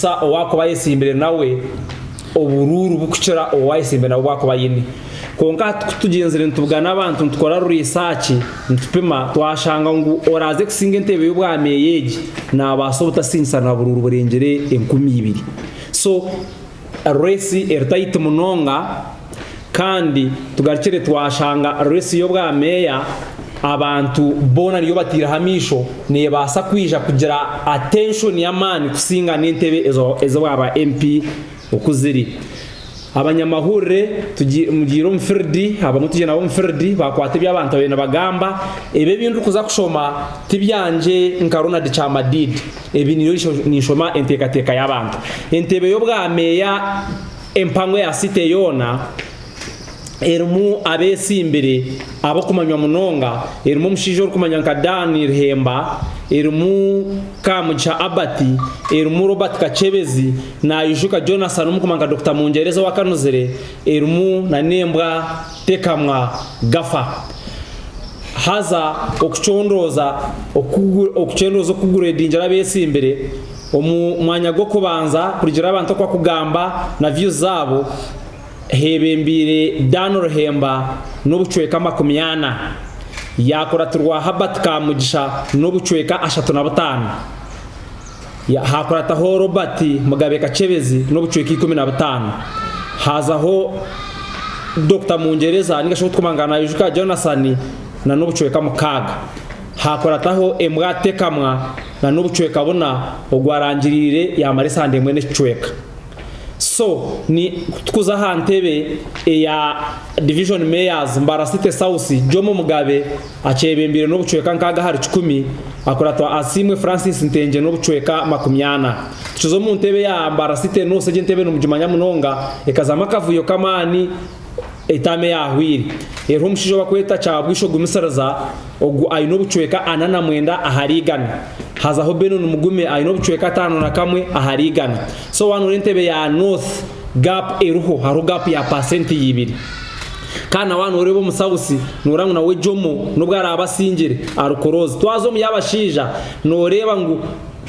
Sa owaakuba ayetsimbire nawe oburuuru bukukira obu ayetsimbire nabwo bwakuba aine. Kwonka hati ku tugyenzire nitubuga n'abantu nitukora ruriisaaki, nitupima, twashanga ngu oraaze kusinga enteebe y'obwameeya egi naabaasa obutasingisa na buruuru burengyere enkumi ibiri. So, ruresi eri tayiti munonga. Kandi tugarukire twashanga resi y'obwa meeya abantu boona niyo bataireho amaisho nebaasa kwija kugira attention y'amaani kusinga n'entebe ez'obwa ba MP oku ziri. Abanyamahurire mugiire omu field, abamwe twije nabo omu field bakwata ebi abantu babire nibagamba. Ebi ebi ndikuza kushoma tibyangye nka Ronald Kyamadiidi, ebi niyo ninshoma enteekateeka y'abantu. Entebe y'obwa meeya. Empangwe ya site yoona erimu abeesimbire ab'okumanywa munonga, erimu omushaija orikumanywa nka Dan Irhemba, erimu Kamugisha Albert, erimu Robert Kakyebezi, Naijuka Jonas ari omukumanywa nka Dokita Mungyereza ow'akanuzire, erimu na n'embwa Tekamwa Gafa. Haza okucondooza oku okucondooza okugureedingira abeesimbire. Omu mwanya gw'okubanza kurugira abantu oku akugamba na views zaabo, h'ebembeire Dan Ruhemba n'obucweka amakumi ana, yaakuratirwa Herbert Kamugisha n'obucweka ashatu na butaano, haakurataho Robert Mugabe Kachebezi n'obucweka ikumi na butaano, haazaho Dokita Mungyereza ninga shi ogu turikumangaana Naijuka Jonathan na n'obucweka mukaaga, haakurataho Embwa Tekamwa, na n'obucweka buna ogwarangirire yamara esande emwe n'ekicweka so ni kutukuza aha ntebe eya Division Mayors Mbarara City South Jomo Mugabe akyebembeire n'obucweka nkaaga ahari kikumi akuratwa Asiimwe Francis Ntengye n'obucweka makumi ana tukiza omu ntebe ya Mbarara City North egi entebe nimugimanya munonga ekazamu akavuyo k'amaani etaama eyaahwaire eriho omushaija obakweta Kyabwisho Gumisiriza ogu aine obucweka ana na mwenda ahari igana hazaho Benon Mugume aine obucweka ataano na kamwe ahari igana so waana ori entebe ya North gap eriho hariho gap ya paasenti ibiri kandi na waana oreeba omu South noreeba ngu nawe Jomo nobu araabe asingire ari kuroozi twaza omu y'abashaija noreeba ngu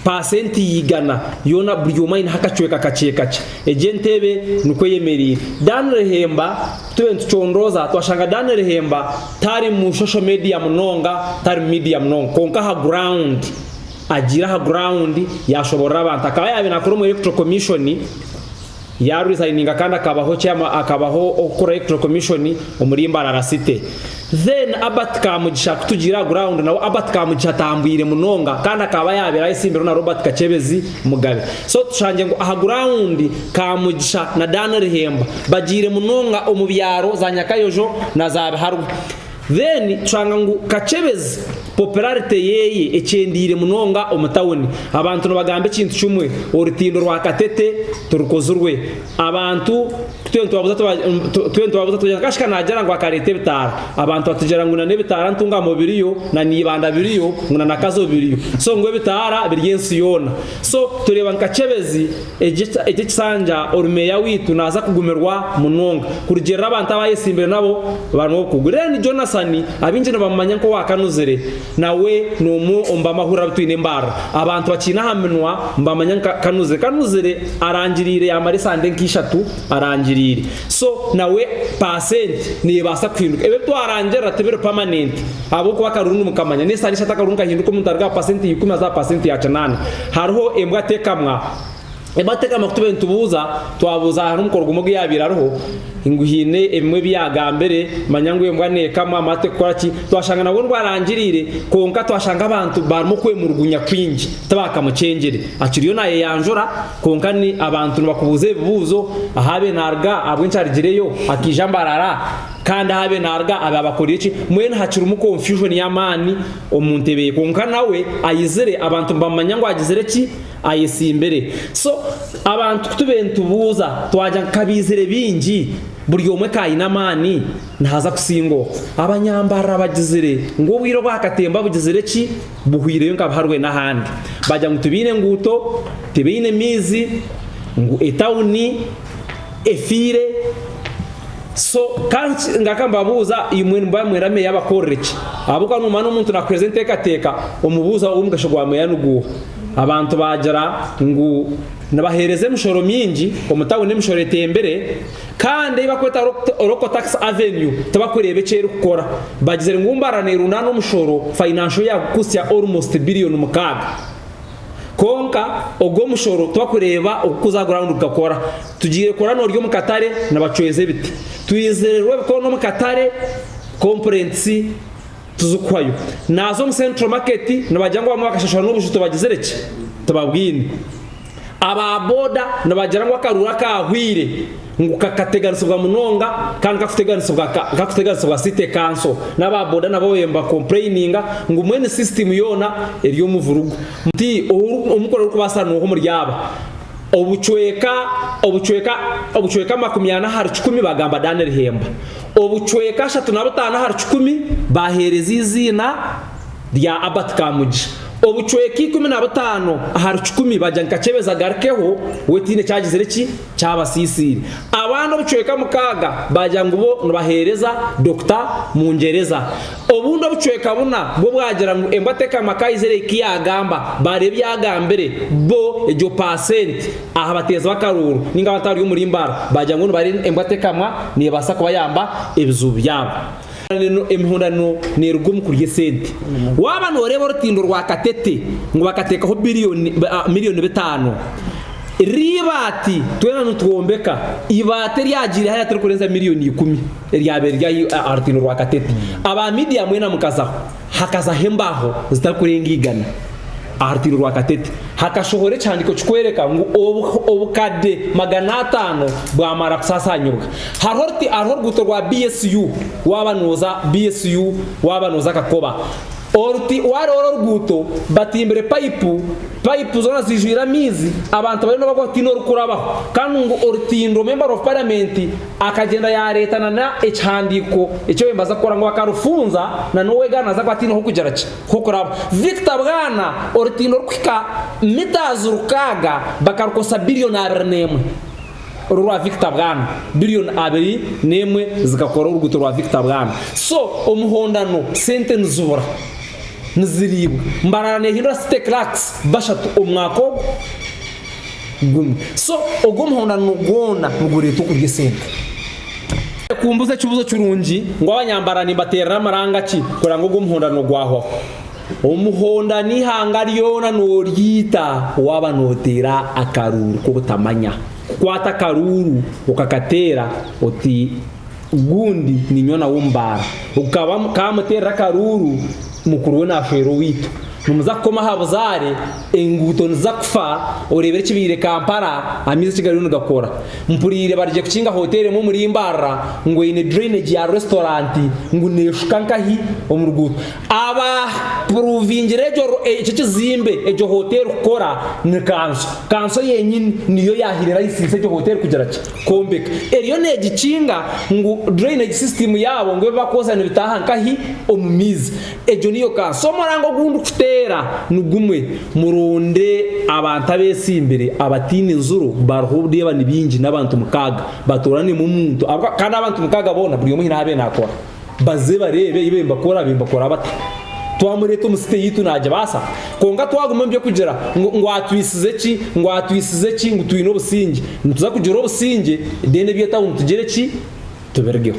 Paasenti igana yoona buri omwe aineho akacweka kakye kakye. Egi entebe nikwo eyemereire. Dan Rehemba, Tube nitucondooza, twashanga Dan Rehemba tari mu social media munonga, tari mu media munonga. Kwonka aha ground, agiire aha ground, yaashoboorora abantu. Akaba yaabaire naakora omuri Electoral Commission, Yaresigninga kandi akabaho chairman akabaho okukuraho electoral commission omuri Mbarara city. Then Albert Kamugisha kutugiira aha ground nawe Albert Kamugisha atambwire munonga kandi akaba yabaire ayesimbirwe na Robert Kachebezi Mugabe. So tushangye ngu aha ground Kamugisha na Dan Rihemba bagiire munonga omu byaro za Nyakayojo na za Biharwa. Then tushanga ngu Kakyebezi popularity yeye ekyendeire munonga omu town. Abantu nibagamba ekintu kimwe, orutindo rwa Katete tirukozirwe. Abantu kutwena nitubabuza kutwena nitubabuza tugira ngu kashika nagira ngu akareta ebitaara. Abantu batugira ngu na n'ebitaara ntungamo biriyo, na Naibanda biriyo, ngu na Nakazo biriyo. So ngu ebitaara biri ensi yoona. So tureeba ngu Kakyebezi Egi ekisanja orumeeya waitu naaza kugumirwa munonga kurugiirira abantu abu ayetsimbire nabo bari n'obukugu. Ren Jonasson abaingi nibamumanya nk'owaakanuzire nawe n'omwe omu b'amahurire abu twine embarra. Abantu bakiine aha minwa nibamanya nka Kanuzire. Kanuzire arangiriire yaamara esande nk'eishatu arangiriire. So nawe paasenti neebaasa kuhinduka. Ebi ebi twarangirira tibiri pamanenti. Ahabw'okuba akarungu nikamanya, n'esaha n'eshatu akarungu kahinduka omuntu aruga aha paasenti ya ikumi aza aha paasenti ya kinaana. Hariho embwa tekamwa. Embwa tekamwa ku tubaire nitubuuza, twabuuza hariho omukoro gumwe ogu yaabaire ariho, ngu haine ebimwe ebi yaagambire, manya ngu embwa neekamwa amara tekukora ki, twashanga nabwo nibwo arangiriire, kwonka twashanga abantu barimu okwemurugunya kwingi, tibaakamucengyere. Akiriyo naayeyanjura, kwonka ni abantu nibakubuuza ebibuuzo, ahaabaire naaruga ahabw'enki arigireyo, akaija mbarara. Kandi ahabe naruga abe abakorire ki mbwenu hakirimu confusion yamani omuntebe ye kwonka nawe ayizire abantu nibamumanya ngu agizire ki ayesimbire so abantu kutubire nitubuuza twagira ngu kabizire bingi buri omwe ka ayine amani nahaza kusinga oku abanyambarara bagizire ngu obwire obwakatemba bugizire ki buhwireyo nka buharwe nahandi bagira ngu tibaine enguuto tibaine maizi ngu etauni efiire so kandi ngaruka mbabuuza imwe nimuba nimwenda meeya abakorere ki ahabw'okuba noomanya n'omuntu naakuheereza enteekateeka omubuuza omugasho gwa meeya niguuha abantu baagira ngu nibaheereza emishoro mingi omu tawuni emishoro etembire kandi ei barikweta local tax avenue tibarikureeba eki erikukora bagizire ngu mbarara neerundaana omushoro financial yaagukusya almost billion mukaaga Kwonka ogwo omushoro twakureeba oku kuza ground kukakora. Tugiire kukora norya omu katare nibacweza ebiti. Twizire rwo ebikoona omu katare complaints tuzikuhayo. Naza omu central market nibagira ngu bamwe bakashashura n'obuju tibagizire ki? Tibabwine. Aba boda nibagira ngu akaruuru akahweire. ngu kakateganisibwa munonga kandi kakuteganisibwa ka kakuteganisibwa city council naba boda nabo babaire niba complaininga ngu mbwenu system yoona eri omu burugu nti omukora orikubaasa nuuha omuri aba obucweeka obucweeka obucweeka amakumi ana ahari kikumi bagamba Daniel Hemba obucweeka ashatu na butaano ahari kikumi baheereza eiziina rya Abert Kamugi obucweeka ikumi na butaano ahari kikumi bagira ngu kakyebeza agarukeho we tihaine eki agizire ki kyabasiisiire. Abandi obucweka mukaaga baagira ngu bo nibaheereza Dokita Mungyereza. Obundi obucweka buna bwo bwagira ngu embwa tekama Kaizere ku yaagamba, baareeba ebi agambire bo egyo paasenti aha bateezi b'akaruuru nainga abantu abari omuri Mbaara baagira ngu bo nibaareeba embwa tekamwa neebaasa kubayamba ebizibu byabo. Emihondano neeruga omu kurya esente. Waaba nooreeba orutindo rwa Katete ngu bakateekaho milioni bitaano, riri eibaati twena nitwombeka, eibaati eryagiire hariya tirikurenza milioni ikumi eryabaire riri aha rutindo rwa Katete. Aba miidiya mwena mukazaho. hakazaho embaaho zitakurenga igana aha rutindo rwa katete. Hakashohora ekihandiko kikwereka ngu obukade magana atano bwamara kusasanyibwa. Hariho oruti hariho oruguuto rwa BSU waba noza BSU waba noza Kakoba. Oruti wariho oruguuto batimbire payipu, payipu zona zijwire amaizi abantu bariyo nibagwa tihaine orikurabaho. Kandi ngu orutindo member of parliament Akagyenda yaareeta na n'ekihandiiko eki oyebaza kukora ngu akarufunza na n'owegaana aza kuba ataineho kugira ki? Nk'okuraba. Victor Bwana orutindo orukuhika mitaazi rukaaga bakarukozesa bilioni abiri n'emwe. Oru rwa Victor Bwana. Bilioni abiri n'emwe zikakora oruguuto rwa Victor Bwana. So omuhondano sente nizibura. Niziriibwa. Mbarara neehindura city clerks bashatu omu mwaka ogu. gumwe so ogwo omuhondano gwona nigureeta okurya esente. Ekumbuza ekibuzo kirungi ngu abanyambara nimbaterera amaranga ki kureba ngu ogwo omuhondano gwahwaho? Omuhondano ihanga ryona noryita waba notera akaruuru kobutamanya. Kukwata akaruuru okakateera oti Gundi niinywa nawe omu baara. Ogu ka kaamuteerera akaruuru, mukuru we naashwera owaitu. Nimuza kukoma aha buzaare, enguuto niziza kufa, oreebire ekibaire Kampala, amaizi eki gariyo nigakora. Mpuriire barigye kukinga hoteeri emwe omuri Mbarara, ngu eine drainage ya resitoranti ngu neeshuka nkahi omu ruguuto. Abaapuruuvingire egyo ekyo ekizimbe, egyo hoteeri kukora, ni kanso. Kanso yenyini niyo yahaire layisinsi egyo hoteeri kugira ki? kwombeka eriyo neegikinga ngu drainage system yaabo ngu ebi barikwoza nibitaaha nkahi? Omu maizi. Egyo niyo kansa. So omurango ogu ndikuteera nigumwe, muronde abantu abeesimbire abataine nzuro bariho oreeba ni baingi n'abantu mukaaga batooranemu omuntu ahabw'okuba kandi abantu mukaaga boona buri omwe haine ahu abeire naakora. Baze bareebe eyi bembakora bembakora bata twamureta omu site yitu nagyebasa konka twaguma omu byokugira ngu ngu atwisize ki ngu atwisize ki ngu twine obusingye nituza kugira obusingye then ebye tawuni tugire ki tubirigeho.